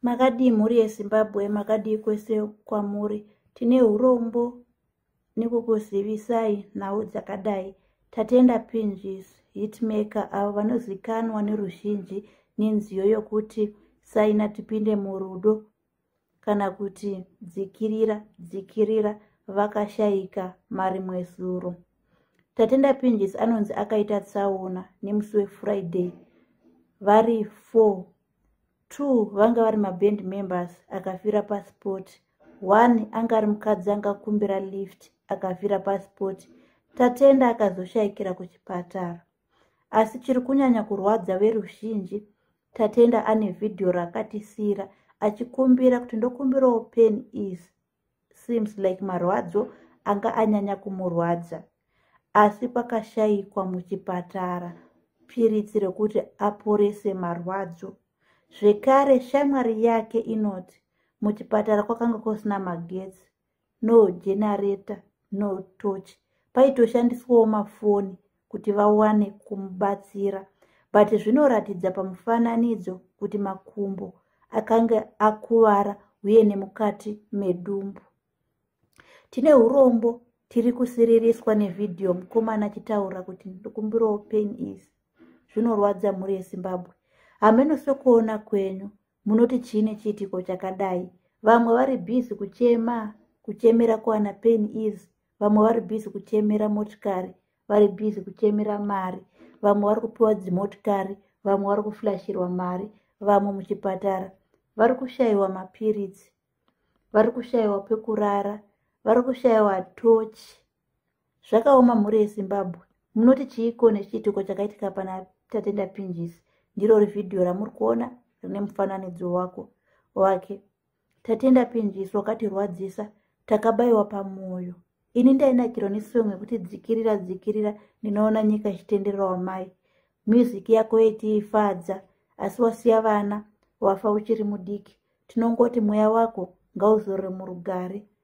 makadii mhuri yezimbabwe makadii kwese kwamuri tine urombo nekukuzivisai nhau dzakadai tatenda pinjis hitmaker avo vanozikanwa neruzhinji nenziyo yokuti saina tipinde murudo kana kuti dzikirira dzikirira vakashaika marimwe zuro tatenda pinjisi anonzi akaita tsaona nemusi wefriday vari four two vanga vari maband members akafira pasport one anga ari mukadzi angakumbira lift akafira pasport tatenda akazoshayikira kuchipatara asi chiri kunyanya kurwadza veruzhinji tatenda ane vhidhiyo raakatisiyira achikumbira kuti ndokumbirawo pen is seems like marwadzo anga anyanya kumurwadza asi pakashayikwa muchipatara piritsi rekuti aporese marwadzo zvekare shamwari yake inoti muchipatara kwakanga kusina magetsi no generator no torch paitoshandiswawo mafoni kuti vawane kumubatsira but zvinoratidza pamufananidzo kuti makumbo akange akuvara uye nemukati medumbu tine urombo tiri kusiririswa nevhidhiyo mukomana achitaura kuti ndikumbirawo pain is zvinorwadza mhuri yezimbabwe hameno sokuona kwenyu munoti chii nechiitiko chakadai vamwe vari bhizi kuchema kuchemera kuwana pain is vamwe vari bhizi kuchemera motikari vari bhizi kuchemera mari vamwe vari kupiwa dzimotikari vamwe vari kuflashirwa mari vamwe muchipatara vari kushayiwa mapiritsi vari kushayiwa pekurara vari kushayiwa tochi zvakaoma mhuri yezimbabwe munoti chiiko nechiitiko chakaitika pana tatenda pinjisi ndiro rivhidhiyo ramuri kuona rine mufananidzo wako wake tatenda pinjisi wakatirwadzisa takabayiwa pamwoyo ini ndainakiro nesong yekuti dzikirira dzikirira ndinoona nyika ichitenderera wamai music yako yetiifadza asi wasiya vana wafa uchiri mudiki tinongoti mweya wako ngauzorore murugare